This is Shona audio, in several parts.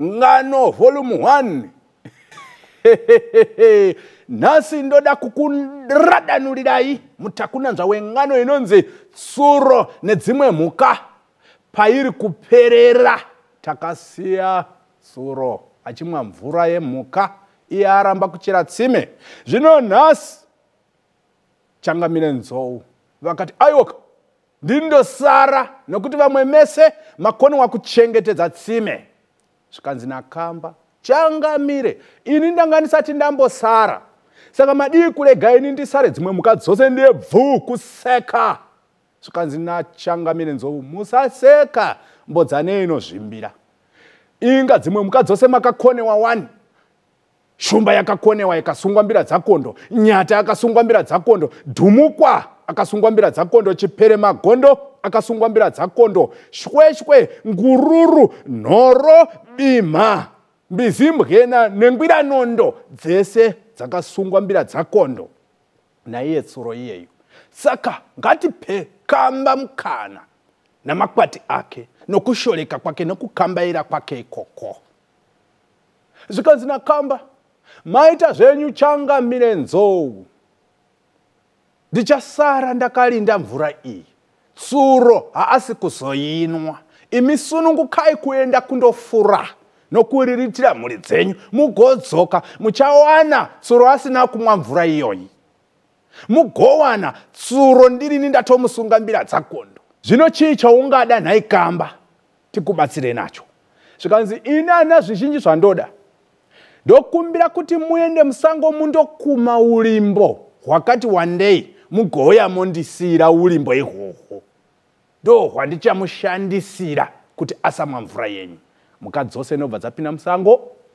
ngano volume 1 nhasi ndoda kukuradanurirai mutakunanzva wengano inonzi tsuro nedzimwe mhuka pairi kuperera takasiya tsuro achimwa mvura yemhuka iye aramba kuchera tsime zvino nhasi changamire nzou vakati aiwoka ndindosara nokuti vamwe mese makoniwa kuchengetedza tsime zvikanzi nakamba changamire ini ndanga ndisati ndambosara saka madii kurega ini ndisare dzimwe mhuka dzose ndiye bvuu kuseka zvikanzi nachangamire nzou musaseka mbodzanei inozvimbira inga dzimwe mhuka dzose makakonewa wani shumba yakakonewa ikasungwa mbira dzakondo nyata akasungwa mbira dzakondo dhumukwa akasungwa mbira dzakondo chipere magondo akasungwa mbira dzakondo shweshwe ngururu nhoro bimha mbizimbwena nengwiranondo dzese dzakasungwa mbira dzakondo naiye tsuro iyeyu saka ngatipe kamba mukana namakwati ake nokushoreka kwake nokukambaira kwake ikoko zvikanzi nakamba maita zvenyu changamire nzou ndichasara ndakalinda mvura iyi tsuro haasi kuzoinwa imi sunungukai kuenda kundofura nokuriritira mhuri dzenyu mugodzoka muchawana tsuro asina kumwa mvura iyoyi mugowana tsuro ndirini ndatomusunga mbira dzakondo zvino chii chaungada nhai kamba tikubatsirei nacho zvikanzi ini ana zvizhinji zvandoda ndokumbira kuti muende musango mundokuma ulimbo hwakati wandei mugouya mondisiyira ulimbo ihwohwo ndo hwandichamushandisira kuti asamwa mvura yenyu mhuka dzose inobva dzapinda musango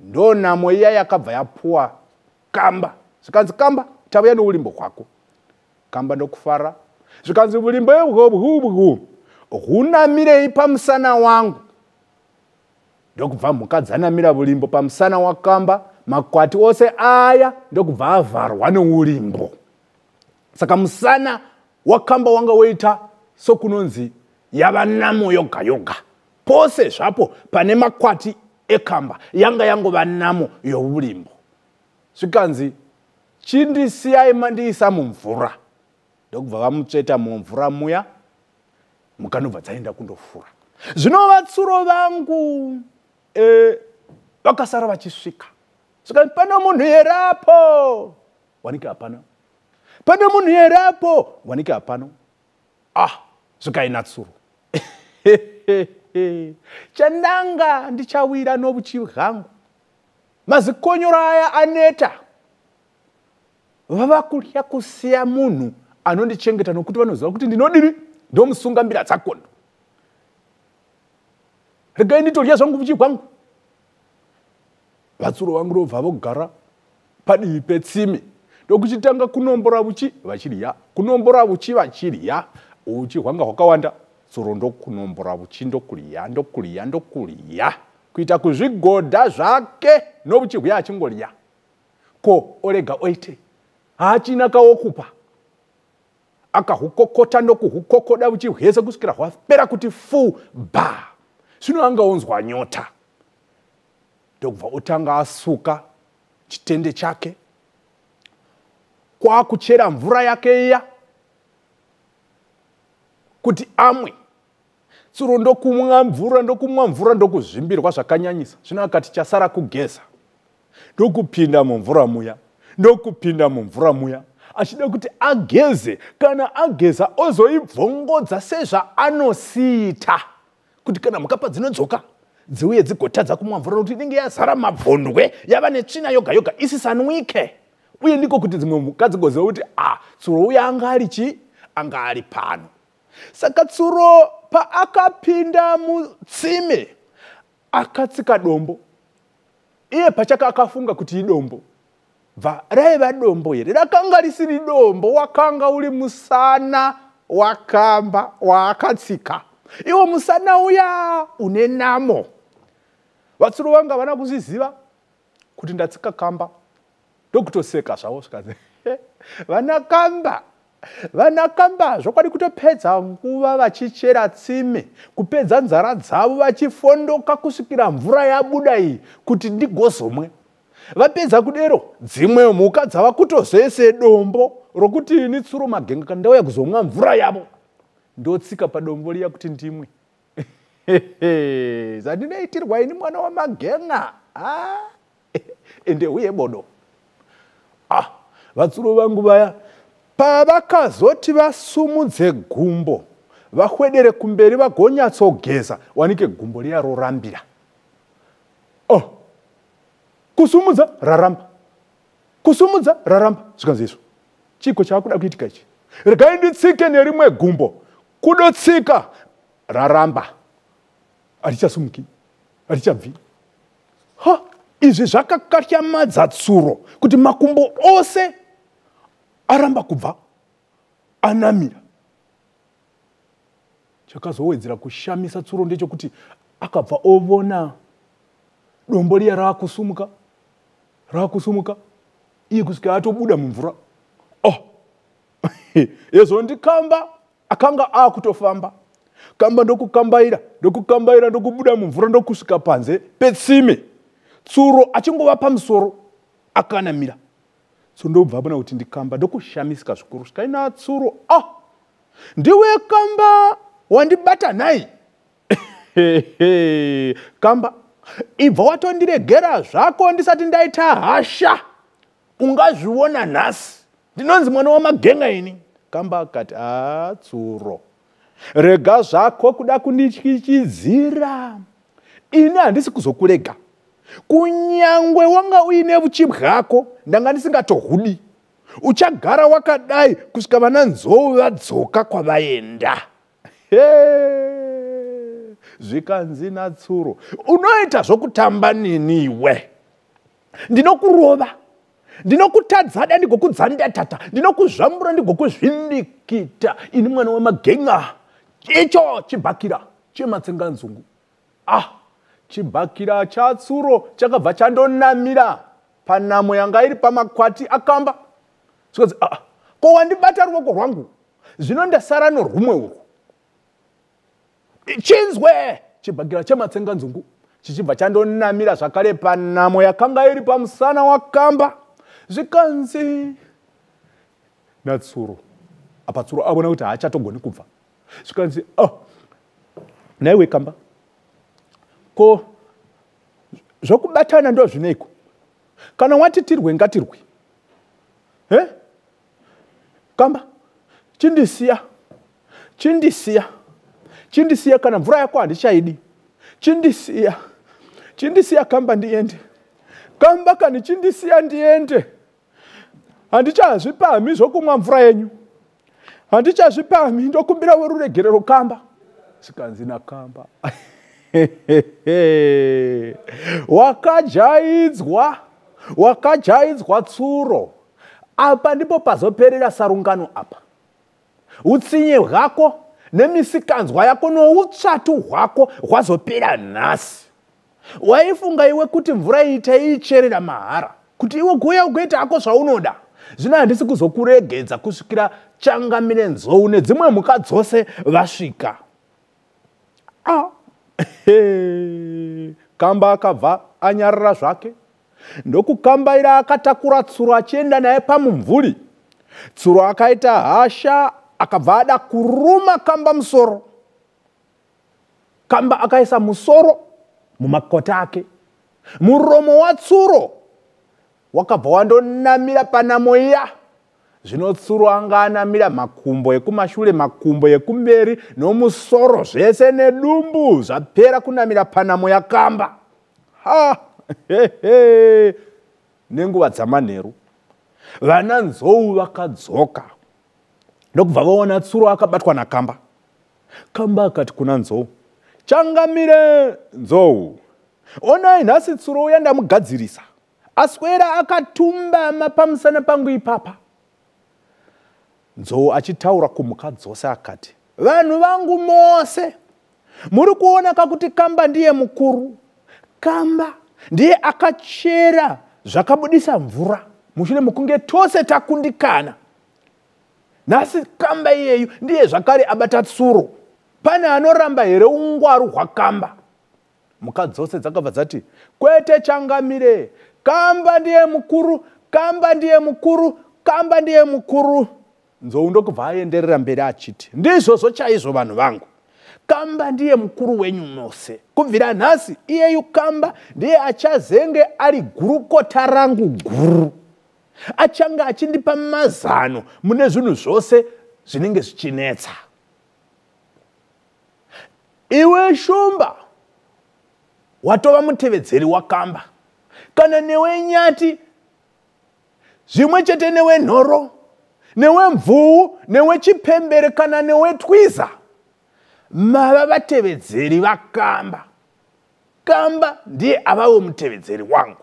ndo namo iya yakabva yapuwa kamba zvikanzi kamba tauya noulimbo kwako kamba ndokufara zvikanzi ulimbo ehobhubhu hunamirei pamusana wangu ndokubva mhuka dzanamira ulimbo pamusana wakamba makwati ose aya ndokubva avharwa neulimbo saka musana wakamba wanga woita sokunonzi yava namo yoga yoga Pose zvapo pane makwati ekamba yanga yangova namo youlimbo. Zvikanzi, chindisiyai mandiisa mumvura. Ndokubva vamutsveta mumvura muya, mukanobva dzaenda kundofura. Zvino vatsuro vangu eh, vakasara vachisvika. Zvikanzi, pane munhu here apo? Wanike hapana. Pane munhu here apo? Wanike hapana. ah zvikai natsuro chandanga ndichawira nobuchi bwangu mazikonyoro aya aneta vava kutya kusiya munhu anondichengeta nokuti vanoziva kuti ndinodini ndomusunga mbira dzakondo regai nditodya zvangu buchi bwangu vatsuro vangu ndobva vogara padivi petsimi ndokuchitanga kunombora uchi vachirya kunombora uchi vachirya uchi hwanga hwakawanda tsuro ndokunombora uchi ndokurya ndokurya ndokurya kuita kuzvigodha zvake nouchi huya achingorya ko orega oitei haachina kawokupa akahukokota ndokuhukokoda uchihwese kusvikira hwapera kuti fu ba zvino anga onzwa nyota ndokubva otanga asuka chitende chake kwakuchera mvura yake iya kuti amwe tsuro ndokumwa mvura ndokumwa mvura ndokuzvimbirwa zvakanyanyisa zvino akati chasara kugeza ndokupinda mumvura muya ndokupinda mumvura muya achida kuti ageze kana ageza ozoibvongodza sezvaanosiita kuti kana mhukapa dzinodzoka dziuye dzigotadza kumwa mvura nokuti inenge yazara mabvondwe yava netsvina yoga yoga isisanwike uye ndiko kuti dzimwe mhuka dzigozeva kuti a ah, tsuro uya anga ari chii anga ari pano saka tsuro paakapinda mutsime akatsika dombo iye pachaka akafunga kuti idombo bva raiva dombo here rakanga risiri dombo wakanga uri musana wakamba waakatsika iwo musana uya une namo vatsuro vanga vana kuzviziva kuti ndatsika kamba ndokutoseka zvavo zvikanzi vanakamba vanakamba zvokwadi kutopedza nguva vachichera tsime kupedza nzara dzavo vachifondoka kusvikira mvura yabuda iyi kuti ndigozomwe vapedza kudero dzimwe mhuka dzava kutozoise dombo rokuti ini tsuro magenga kandauya kuzomwa mvura yavo ndotsika padombo riya kuti ndimwe zvandinoitirwa ini mwana wamagenga ah. ende uye bodo ah vatsuro vangu vaya pavakazoti vasumudze gumbo vahwedere kumberi vagonyatsogeza wanike gumbo riya rorambira oh kusumudza raramba kusumudza raramba zvikanzi izvo chiko chaakuda kuitika ichi regai nditsike nerimwe gumbo kudotsika raramba hatichasumuki hatichabvi ha izvi zvakakatyamadza tsuro kuti makumbo ose aramba kubva anamira chakazowedzera kushamisa tsuro ndechokuti akabva ovona dombo riya raakusumuka raakusumuka iye kusvika atobuda mumvura oh hezvo ndikamba akanga aakutofamba kamba ndokukambaira ndokukambaira ndokubuda mumvura ndokusvika panze petsime tsuro achingova pamusoro akanamira so ndobva abona kuti ndikamba ndokushamisika zvikuru svikaina tsuro ah ndiwe kamba wandibata nhai kamba ibva watondiregera zvako ndisati ndaita hasha ungazviona nhasi ndinonzi mwana wamagenga ini kamba kati aa tsuro rega zvako kuda kundityichidzira ini handisi kuzokurega kunyangwe wanga uine vuchi bwako ndanga ndisingatohudi uchagara wakadai kusvika vana nzou vadzoka kwavaenda Hey! zvikanzi natsuro unoita zvokutamba nini iwe ndinokurova ndinokutadzada ndigokudzandatata ndinokuzvambura ndigokuzvindikita ini mwana wemagenga icho chibhakira chematsenganzungu ah chibhakira chatsuro chakabva chandonamira panamo yanga iri pamakwati akamba zvikanzi aa ah, ko wandibata ruoko rwangu zvino ndasara norumwe urwu chinzwe chibhagirwa chematsenganzungu chichibva chandonamira zvakare panamo yakanga iri pamusana wakamba zvikanzi natsuro apa tsuro avona kuti haachatogoni kubva zvikanzi oh, naiwe kamba ko zvokubatana ndo zvineiko kana wati tirwe ngatirwe he kamba chindisiya chindisiya chindisiya kana mvura yako handichaidi chindisiya chindisiya kamba ndiende kamba kani chindisiya ndiende handichazvipamhi zvokumwa mvura yenyu handichazvipamhi ndokumbira weruregerero kamba sikanzi nakamba wakajaidzwa wakajaidzwa tsuro apa ndipo pazoperera sarungano apa utsinye hwako nemisikanzwa yako noutsvatu hwako hwazopera nhasi waifunga iwe kuti mvura iyi taiicherera mahara kuti iwe kuuya ugoita hako zvaunoda zvino handisi kuzokuregedza kusvikira changamire nzou nedzimwe mhuka dzose vasvika ah. kamba akabva anyarara zvake ndokukambaira akatakura tsuro achienda naye pamumvuri tsuro akaita hasha akabva ada kuruma kamba musoro kamba akaisa musoro mumakota ake muromo watsuro wakabva wandonamira panamo iya zvino tsuro anga anamira makumbo ekumashure makumbo ekumberi nomusoro zvese nedumbu zvapera kunamira panamo yakamba ha hehe nenguva dzamanheru vana nzou vakadzoka ndokubva vaona tsuro akabatwa nakamba Kamba akati kuna Nzou, Changamire Nzou, onai nhasi tsuro uya ndamugadzirisa, aswera akatumbama pamusana pangu ipapa. Nzou achitaura kumhuka dzose akati, Vanhu vangu mose, muri kuona kakuti Kamba ndiye mukuru. Kamba ndiye akachera zvakabudisa mvura mushure mekunge tose takundikana. nhasi kamba iyeyu ndiye zvakare abata tsuro pane anoramba here ungwaru hwakamba mhuka dzose dzakabva dzati kwete changamire kamba ndiye mukuru kamba ndiye mukuru kamba ndiye mukuru nzou ndokubva aenderera mberi achiti ndizvozvo chaizvo vanhu vangu kamba ndiye mukuru wenyu mose kubvira nhasi iyeyu kamba ndiye achazenge ari gurukota rangu guru achange achindipa mazano mune zvinhu zvose zvinenge zvichinetsa iwe shumba watova mutevedzeri wakamba kana newe nyati zvimwe chete newe nhoro newe mvuu newe chipembere kana newe twiza mava vatevedzeri vakamba kamba ndiye avavo mutevedzeri wangu